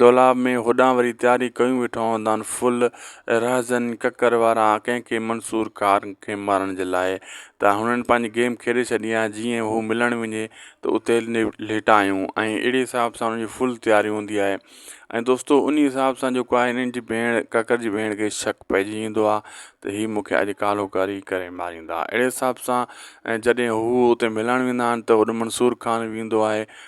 دولاب ۾ هوڏانهن وري تياري ڪيون ويٺا هوندا آهن ڦل، رهزن، ڪڪر وارا ڪنهن ڪنهن منصور ڪار کي مارڻ جي لاء ته هنن پنهنجي گيم کيڏي ڇڏي آهي جيئن هو ملڻ وڃي ته اتي ليٽايون ۽ اهڙي حساب سان هنن جي ڦل تياري هوندي آهي ۽ دوستو انهي حساب سان جيڪو آهي هنن جي ڀيڻ ڪڪر جي ڀيڻ کي شڪ پئجي ويندو آهي ته هي مونکي اڄ ڪالهو ڪري ڪري ماريندا اهڙي حساب سان جڏهن هو اتي ملڻ ويندا آهن ته هوڏ منصور خان ويندو آهي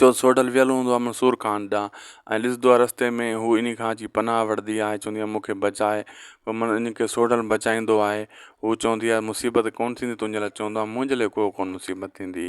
جو سوڍل ويل هوندو آهي منصور خان ڏانهن ۽ ڏسندو آهي رستي ۾ هو انهي کان اچي پناهه وٺندي آهي چوندي آهي مونکي بچائي پوء من ان کي سوڍل بچائيندو آهي هو چوندي آهي مصيبت ڪونه ٿيندي تنهنجي لاء چوندو آهي منهنجي لاء ڪو ڪونه مصيبت ٿيندي